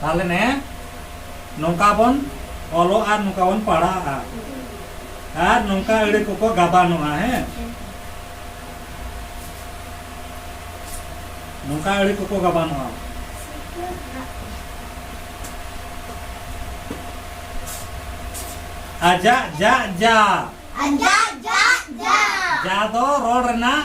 ᱛᱟᱦᱞᱮ ᱱᱮ ᱱᱚᱝᱠᱟ ᱵᱚᱱ ᱚᱞᱚᱜ ᱟᱨ ᱱᱚᱝᱠᱟ ᱵᱚᱱ ᱯᱟᱲᱦᱟᱜᱼᱟ ᱟᱨ ᱱᱚᱝᱠᱟ ᱟᱹᱲᱟᱹ ᱠᱚᱠᱚ ᱜᱟᱵᱟᱱᱚᱜᱼᱟ ᱦᱮᱸ ᱱᱚᱝᱠᱟ ᱟᱹᱲᱟᱹ ᱠᱚᱠᱚ ᱜᱟᱵᱟᱱᱚᱜᱼᱟ ᱟᱡᱟᱜ ᱡᱟᱜ ᱡᱟ ᱟᱡᱟᱜ ᱡᱟᱜ ᱡᱟ ᱡᱟ ᱫᱚ ᱨᱚᱲ ᱨᱮᱱᱟᱜ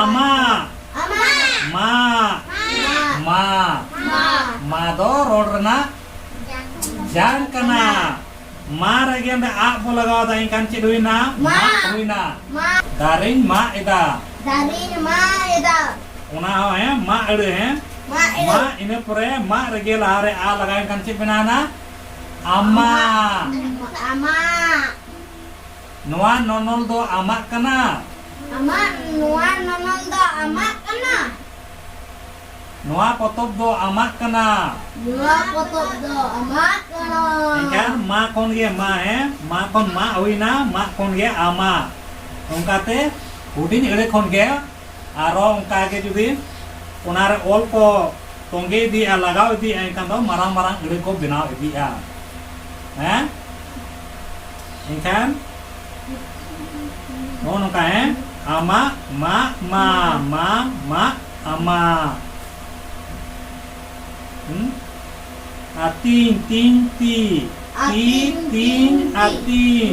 ᱟᱢᱟ ᱢᱟ ᱢᱟ ᱢᱟ ᱫᱚ ᱨᱚᱲ ᱨᱮᱱᱟᱜ ᱡᱟᱝ ᱠᱟᱱᱟ ᱢᱟ ᱨᱮᱜᱮ ᱚᱸᱰᱮ ᱟᱜ ᱵᱚ ᱞᱟᱜᱟᱣ ᱮᱫᱟ ᱮᱱᱠᱷᱟᱱ ᱪᱮᱫ ᱦᱩᱭᱱᱟ ᱢᱟ ᱦᱩᱭᱱᱟ ᱫᱟᱨᱮᱧ ᱢᱟᱜ ᱮᱫᱟ ᱫᱟᱨᱮᱧ ᱢᱟᱜ ᱮᱫᱟ ᱚᱱᱟ ᱦᱚᱸ ᱦᱮᱸ ᱢᱟᱜ ᱟᱹᱲᱟᱹ ᱦᱮᱸ ᱢᱟ ᱤᱱᱟᱹ ᱯᱚᱨᱮ ᱢᱟ ᱨᱮᱜᱮ ᱞᱟᱦᱟᱨᱮ ᱟ ᱞᱟᱜᱟᱣ ᱮᱱᱠᱷᱟᱱ ᱪᱮᱫ ᱵᱮᱱᱟᱣᱱᱟ ᱟᱢᱟ ᱟᱢᱟ ᱱᱚᱣᱟ ᱱᱚᱱᱚᱞ ᱫᱚ ᱟᱢᱟᱜ ᱠᱟᱱᱟ᱾ ᱟᱢᱟᱜ ᱱᱚᱣᱟ ᱱᱚᱱᱚᱞ ᱫᱚ ᱟᱢᱟᱜ ᱠᱟᱱᱟ᱾ ᱱᱚᱣᱟ ᱯᱚᱛᱚᱵ ᱫᱚ ᱟᱢᱟᱜ ᱠᱟᱱᱟ᱾ ᱱᱚᱣᱟ ᱯᱚᱛᱚᱵ ᱫᱚ ᱟᱢᱟᱜ ᱠᱟᱱᱟ᱾ ᱮᱱᱠᱷᱟᱱ ᱢᱟ ᱠᱷᱚᱱ ᱜᱮ ᱢᱟ ᱦᱮ ᱢᱟ ᱠᱷᱚᱱ ᱢᱟ ᱦᱩᱭᱱᱟ ᱢᱟ ᱠᱷᱚᱱ ᱜᱮ ᱟᱢᱟᱜ ᱚᱱᱠᱟᱛᱮ ᱦᱩᱰᱤᱧ ᱟᱹᱲᱟᱹ ᱠᱷᱚᱱ ᱜᱮ ᱟᱨᱚ ᱚᱱᱠᱟ ᱜᱮ ᱡᱩᱫᱤ ᱚᱱᱟ ᱨᱮ ᱚᱞ ᱠᱚ ᱛᱚᱸᱜᱮ ᱤᱫᱤᱜᱼᱟ ᱞᱟᱜᱟᱣ ᱤᱫᱤᱜᱼᱟ ᱮᱱᱠᱷᱟᱱ ᱫᱚ ᱢᱟᱨᱟᱝ ᱢᱟᱨᱟᱝ ᱟᱹᱲᱟᱹ ᱠᱚ ᱵᱮᱱᱟᱣ ᱤᱫᱤᱜᱼᱟ ᱦᱮᱸ ᱮᱱᱠᱷᱟᱱ ᱱᱚᱜᱼᱚ ᱱᱚᱝᱠᱟ ᱦᱮᱸ ᱟᱢᱟᱜ ᱢᱟ ᱢᱟ ᱢᱟ ᱢᱟ ᱟᱢᱟᱜ ᱦᱩᱸ ᱟᱨ ᱛᱤᱧ ᱛᱤᱧ ᱛᱤ ᱛᱤ ᱛᱤᱧ ᱟᱨ ᱛᱤᱧ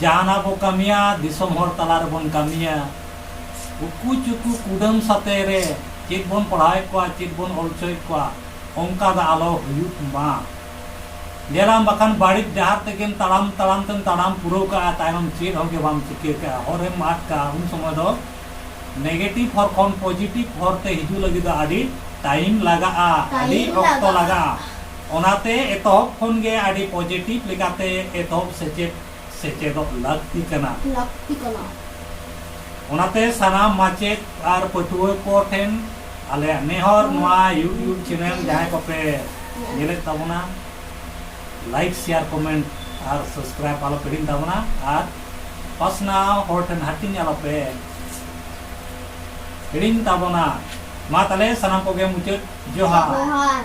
ᱡᱟᱦᱟᱱᱟᱜ ᱵᱚ ᱠᱟᱹᱢᱤᱭᱟ ᱫᱤᱥᱚᱢ ᱦᱚᱲ ᱛᱟᱞᱟ ᱨᱮᱵᱚᱱ ᱠᱟᱹᱢᱤᱭᱟ᱾ ᱩᱠᱩ ᱪᱩᱠᱩ ᱠᱩᱰᱟᱹᱢ ᱥᱟᱛᱮ ᱨᱮ ᱪᱮᱫ ᱵᱚᱱ ᱯᱟᱲᱦᱟᱣᱮᱫ ᱠᱚᱣᱟ, ᱪᱮᱫ ᱵᱚᱱ ᱚᱞ ᱦᱚᱪᱚᱭᱮᱫ ᱠᱚᱣᱟ ᱚᱱᱠᱟ ᱫᱚ ᱟᱞᱚ ᱦᱩᱭᱩᱜ ᱢᱟ᱾ ᱧᱮᱞᱟᱢ ᱵᱟᱠᱷᱟᱱ ᱵᱟᱹᱲᱤᱡ ᱰᱟᱦᱟᱨ ᱛᱮᱜᱮᱢ ᱛᱟᱲᱟᱢ ᱛᱟᱲᱟᱢ ᱛᱮᱢ ᱛᱟᱲᱟᱢ ᱯᱩᱨᱟᱹᱣ ᱠᱟᱜᱼᱟ ᱛᱟᱭᱱᱚᱢ ᱪᱮᱫ ᱦᱚᱸ ᱜᱮ ᱵᱟᱢ ᱪᱤᱠᱟᱹ ᱠᱟᱜᱼᱟ ᱦᱚᱨ ᱨᱮᱢ ᱟᱫ ᱠᱟᱜᱼᱟ ᱩᱱ ᱥᱚᱢᱚᱭ ᱫᱚ ᱱᱮᱜᱮᱴᱤᱵᱷ ᱦᱚᱨ ᱠᱷᱚᱱ ᱯᱚᱡᱤᱴᱤᱵᱷ ᱦᱚᱨ ᱛᱮ ᱦᱤᱡᱩᱜ ᱞᱟᱹᱜᱤᱫ ᱫᱚ ᱟᱹᱰᱤ ᱴᱟᱭᱤᱢ ᱞᱟᱜᱟᱜᱼᱟ, ᱟᱹᱰᱤ ᱚᱠᱛᱚ ᱞᱟᱜᱟᱜᱼᱟ᱾ ᱚᱱᱟᱛᱮ ᱮᱛᱚᱦᱚᱵ ᱠᱷᱚᱱ ᱜᱮ ᱟᱹᱰᱤ ᱯᱚᱡᱮᱴᱤᱵᱷ ᱞᱮᱠᱟᱛᱮ ᱮᱛᱚᱦᱚᱵ ᱥᱮᱪᱮᱫ ᱥᱮᱪᱮᱫᱚᱜ ᱞᱟᱹᱠᱛᱤ ᱠᱟᱱᱟ᱾ ᱞᱟᱹᱠᱛᱤ ᱠᱟᱱᱟ᱾ ᱚᱱᱟᱛᱮ ᱥᱟᱱᱟᱢ ᱢᱟᱪᱮᱫ ᱟᱨ ᱯᱟᱹᱴᱷᱩᱣᱟᱹ ᱠᱚ ᱴᱷᱮᱱ ᱟᱞᱮᱭᱟᱜ ᱱᱮᱦᱚᱨ ᱱᱚᱣᱟ ᱭᱩᱴᱭᱩᱵᱽ ᱪᱮᱱᱮᱞ ᱡᱟᱦᱟᱸᱭ ᱠᱚᱯᱮ ᱧᱮᱞᱮᱫ ᱛᱟᱵᱚᱱᱟ ᱞᱟᱭᱤᱠ ᱥᱮᱭᱟᱨ ᱠᱚᱢᱮᱱᱴ ᱟᱨ ᱥᱟᱵᱥᱠᱨᱟᱭᱤᱵᱽ ᱟᱞᱚ ᱯᱮ ᱦᱤᱲᱤᱧ ᱛᱟᱵᱚᱱᱟ ᱟᱨ ᱯᱟᱥᱱᱟᱣ ᱦᱚᱲ ᱴᱷᱮᱱ ᱦᱟᱹᱴᱤᱧ ᱟᱞᱚ ᱯᱮ ᱦᱤᱲᱤᱧ ᱛᱟᱵᱚᱱᱟ᱾ ᱢᱟ ᱛᱟᱦᱞᱮ ᱥᱟᱱᱟᱢ ᱠᱚᱜᱮ ᱢᱩᱪᱟᱹᱫ ᱡᱚᱦᱟᱨ᱾ ᱡᱚᱦᱟᱨ᱾